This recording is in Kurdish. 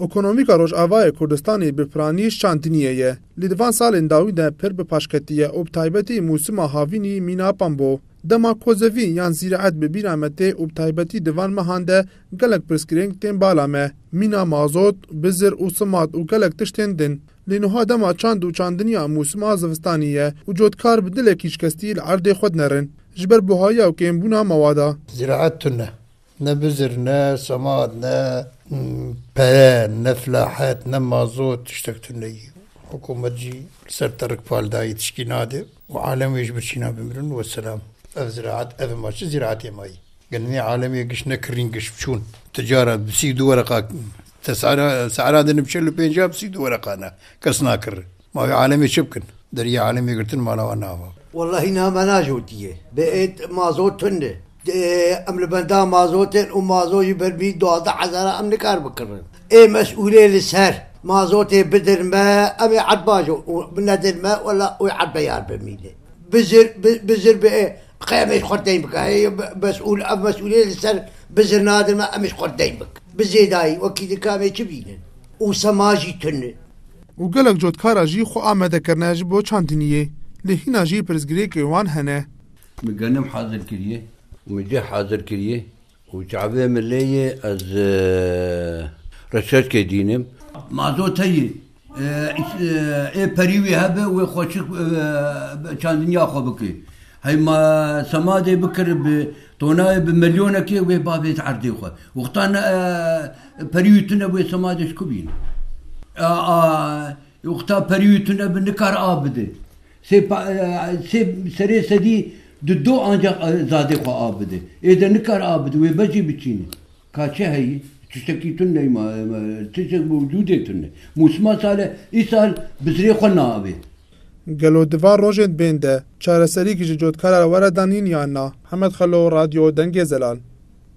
Ekonomîka Rojavayê Kurdistanê bi piranî şandiniyê ye. Lê di van salên dawî de pir bi paş ketiye û bi taybetî mûsima havînî mînapan bo. Dema kozevî yan zîraet bi bîra me tê û bi taybetî di van mehan de gelek pirsgirêng tên bala me. Mîna mazot, bizir û simat û gelek tişt tên din. Lê nuha dema çand û çandiniya mûsima zivistanî ye û cotkar bi dilekî şikestî li erdê xwe dinerin ji ber buhayiya û kêmbûna mewada. Zîraet tune. Ne bizir, ne semad, ne pere, ne flahet, ne mazot tiştek tune yî. Hikûmet jî li ser terik pal dayî tişkî nade û alem wê ji bo çî nabimirin. Weselam. Ev ziraet ev ma çi ziraetê ma yî. Gel nê alemê giş ne kirîn giş biçûn. Ti cara bi sî û du wereqa te sehra sehra de nibçe li pêncab sî û du wereqa ne kes nakir. Ma wê alemê çi bikin? Deriyê alemê girtin mala wan nava. Wellahî niha me najotiye. Bi êd mazo tund e. Em li benda mazo tên û mazo ji ber mî duwazdeh hezara em nikar bikirin. Ê mesûlê li ser mazotê bidin me em ê erd bajo û nedin me wella wê erd beyar be mîlê. Bizir bizir bi ê qey em ê ji xwe deyn bikin. Heyî mesûl ev mesûlê li ser bizir nadin me em ê ji xwe deyn bikin. Bi zêdayî wekî dika em ê çi bînin? Û sema jî tund e. Û gelek cotkara jî xwe amade kirine ji bo çandiniyê. Lê hîna jî pirsgirêkên wan hene. Min genim hazir kiriye û min cih hazir kiriye û çavê min lê ye ez reçeçkê dînim. Ma zo teyê ê perî wî hebe wê xweşik çandiniya xwe bike. Hey ma semadê bikir bi tonayê bi milyonekê wê ba vêt erdê xwe. Wexta ne perî û tune wê semadê ji ku bîne. A wexta perî û tune bi nikar av bide. Sê sê serê sedî di do ancak zadê xwe av bide. Ê de nikar av bide wê bejî biçîne. Ka çi heye? Tiştekî tune ney ma tiştek bi wicûdê tune. Mûsima sal e îsal bi zirê xwe naavê. Gelo di van rojên bên de çareserî ji cotkara were danîn yan na? Hemed Xelo, Radyo Dengê Zelal.